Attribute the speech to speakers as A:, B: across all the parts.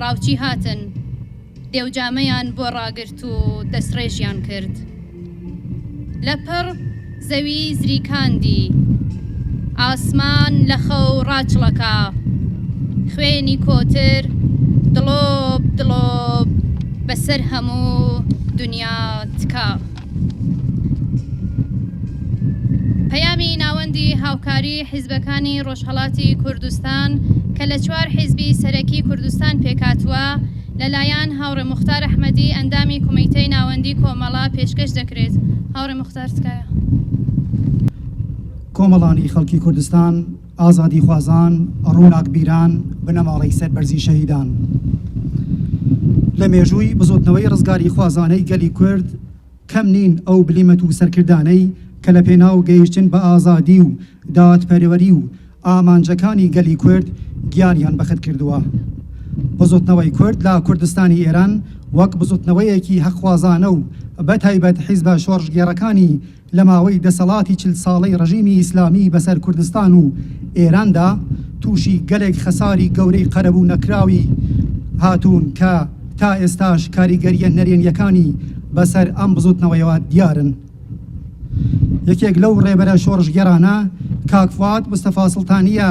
A: ڕاوچی هاتن، دێوجامەیان بۆ ڕاگرت و دەستڕێژیان کرد. لەپڕ زەوی زریکاندی، ئاسمان لە خەو ڕاچڵەکا. خوێنی کۆتر دڵۆپ دڵۆپ بەسەر هەموو دونیا تکا. پەیامی ناوەندی هاوکاری حیزبەکانی ڕۆژهەڵاتی کوردستان کە لە چوار حیزبی سەرەکی کوردستان پێکهاتووە، لەلایەن هاوڕێ موختار ئەحمەدی ئەندامی کومیتەی ناوەندی کۆمەڵە پێشکەش دەکرێت. هاوڕێ موختار تکایە.
B: کۆمەڵانی خەڵکی کوردستان. ئازادیخوازان، ڕووناکبیران، بنەماڵەی سەربەرزی شەهیدان. لە مێژووی بزوتنەوەی ڕزگاریخوازانەی گەلی کورد کەم نین ئەو بلیمەت و سەرکردانەی کە لە پێناو گەیشتن بە ئازادی و دادپەروەری و ئامانجەکانی گەلی کورد گیانیان بەخت کردووە. بزوتنەوەی کورد لە کوردستانی ئێران وەک بزوتنەوەیەکی هەقخوازانە و بە تایبەت حیزبە شۆڕشگێڕەکانی لە ماوەی دەسەڵاتی چل ساڵەی ڕژیمی ئیسلامی بەسەر کوردستان و ئێراندا تووشی گەلێک خەساری گەورەی قەرەبوو نەکراوی هاتوون کە تا ئێستاش کاریگەریە نەرێنیەکانی بەسەر ئەم بزوتنەوەیەوە دیارن. یەکێک لەو ڕێبەرە شۆڕشگێڕانە کاک فواد مستەفا سڵتانیە،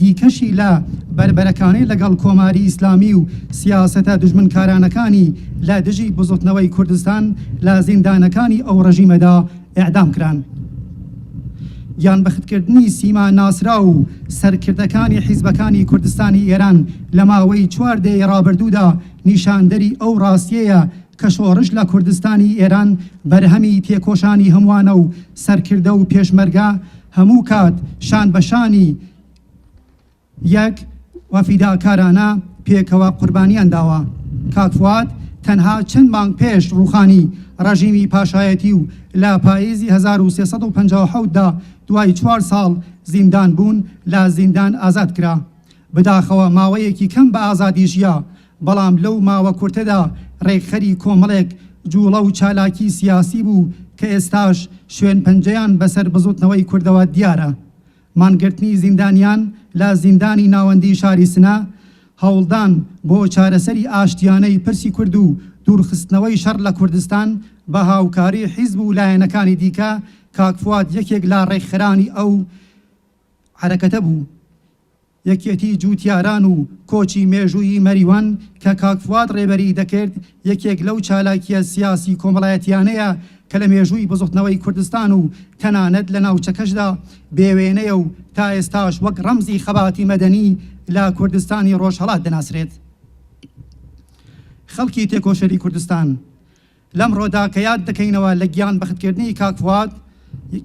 B: دیکەشی لە بەربەرەکانی لەگەڵ کۆماری ئیسلامی و سیاسەتە دوژمنکارانەکانی لە دژی بزوتنەوەی کوردستان لە زیندانەکانی ئەو ڕژیمەدا ئیعدام کران. یان بەختکردنی سیما ناسراو و سەرکردەکانی حیزبەکانی کوردستانی ئێران لە ماوەی چوار دەیەی ڕابردوودا نیشاندەری ئەو ڕاستیەیە کە شۆڕش لە کوردستانی ئێران بەرهەمی تێکۆشانی هەمووانە و سەرکردە و پێشمەرگە هەموو کات شان بە شانی یەک و فیداکارانە پێکەوە قوربانیان داوە. کاک فواد تەنها چەند مانگ پێش ڕووخانی ڕەژیمی پاشایەتی و لە پاییزی هەزار و سێ سەد و پەنجا و حەوت دا دوای چوار ساڵ زیندان بوون لە زیندان ئازاد کرا. بداخەوە ماوەیەکی کەم بە ئازادی ژیا، بەڵام لەو ماوە کورتەدا رێکخەری کۆمەڵێک جوڵە و چالاکی سیاسی بوو کە ئێستاش شوێنپەنجەیان بەسەر بزوتنەوەی کوردەوە دیارە. مانگرتنی زیندانیان لە زیندانی ناوەندی شاری سنە، هەوڵدان بۆ چارەسەری ئاشتیانەی پرسی کورد و دوورخستنەوەی شەڕ لە کوردستان بە هاوکاری حیزب و لایەنەکانی دیکە، کاک فواد یەکێک لە رێکخەرانی ئەو حەرەکەتە بوو. یەکێتی جووتیاران و کۆچی مێژوویی مەریوان کە کاک فواد ڕێبەریی دەکرد، یەکێک لەو چالاکییە سیاسی کۆمەڵایەتییانەیە کە لە مێژووی بزوتنەوەی کوردستان و تەنانەت لە ناوچەکەشدا بێ وێنەیە و تا ئێستاش وەک ڕەمزی خەباتی مەدەنی لە کوردستانی ڕۆژهەڵات دەناسرێت. خەڵکی تێکۆشەری کوردستان. لەمڕۆدا کە یاد دەکەینەوە لە گیان بەخت کردنی کاک فواد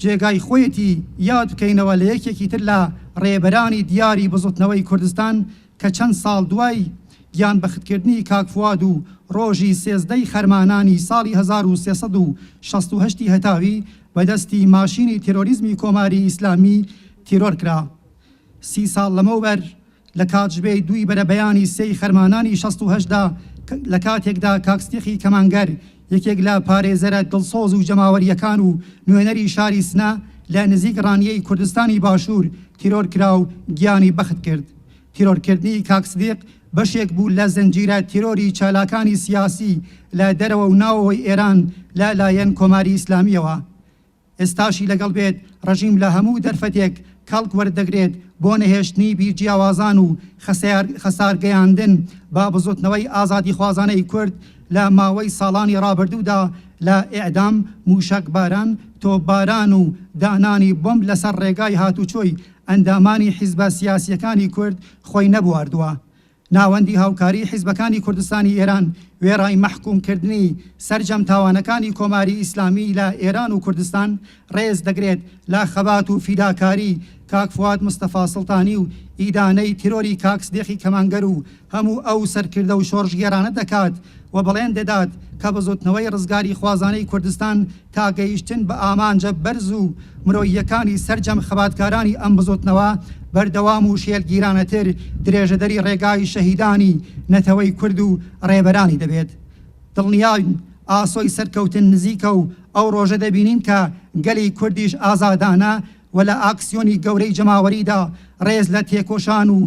B: جێگای خۆیەتی یاد بکەینەوە لە یەکێکی تر لە ڕێبەرانی دیاری بزوتنەوەی کوردستان کە چەند ساڵ دوای گیان بەخت کردنی کاک فواد و ڕۆژی سێزدە ی خەرمانانی ساڵی هەزار و سێ سەد و شەست و هەشت ی هەتاوی بە دەستی ماشینی تێرۆریزمی کۆماری ئیسلامی تیرۆر کرا سی ساڵ لەمەوبەر لە کاتژمێی دووی بەرەبەیانی سێی خەرمانانی شەست و هەشت دا لە کاتێکدا کاک سدیقی کەمانگەر یەکێک لە پارێزەرە دڵسۆز و جەماوەرییەکان و نوێنەری شاری سنە لە نزیک ڕانیەی کوردستانی باشوور تیرۆر کرا و گیانی بەخت کرد. تیرۆرکردنی کاک سدیق بەشێک بوو لە زنجیرە تیرۆری چالاکانی سیاسی لە دەرەوە و ناوەوەی ئێران لە لایەن کۆماری ئیسلامییەوە. ئێستاشی لەگەڵ بێت، ڕژیم لە هەموو دەرفەتێک کەڵک وەردەگرێت بۆ نەهێشتنی بیر جیاوازان و خەسارگەیاندن بە بزوتنەوەی ئازادیخوازانەی کورد لە ماوەی ساڵانی ڕابردوودا لە ئێعدام، موشەکباران، تۆپباران و دانانی بۆمب لەسەر ڕێگای هاتوچۆی ئەندامانی حیزبە سیاسیەکانی کورد خۆی نەبواردوە ناوەندی هاوکاریی حیزبەکانی کوردستانی ئێران وێڕای مەحکوومکردنی سەرجەم تاوانەکانی کۆماری ئیسلامی لە ئێران و کوردستان، ڕێز دەگرێت لە خەبات و فیداکاریی کاک فواد مستەفا سڵتانی و ئیدانەی تیرۆری کاک سدیقی کەمانگەر و هەموو ئەو سەرکردە و شۆڕشگێڕانە دەکات و بڵێن دەدات کە بزووتنەوەی ڕزگاریخوازانەی کوردستان تا گەیشتن بە ئامانجە بەرز و مرۆییەکانی سەرجەم خەباتکارانی ئەم بزوتنەوە بەردەوام و شێلگیرانەتر درێژەدەری ڕێگای شەهیدانی نەتەوەی کورد و ڕێبەرانی دەبێت دڵنیاین ئاسۆی سەرکەوتن نزیکە و ئەو ڕۆژە دەبینین کە گەلی کوردیش ئازادانە و لە ئاکسیۆنی گەورەی جەماوەریدا ڕێز لە تێکۆشان و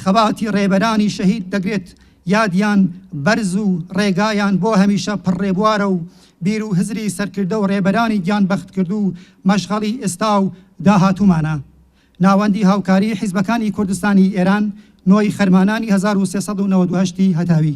B: خەباتی ڕێبەرانی شەهید دەگرێت یادیان بەرز و ڕێگایان بۆ هەمیشە پڕ ڕێبوارە و بیر و هزری سەرکردە و ڕێبەرانی گیان بەختکردوو مەشغەڵی ئێستا و داهاتوومانە. ناوەندی هاوکاریی حیزبەکانی کوردستانی ئێران، نۆی خەرمانانی هەزار و سێ سەد و نەوەد و هەشت ی هەتاوی.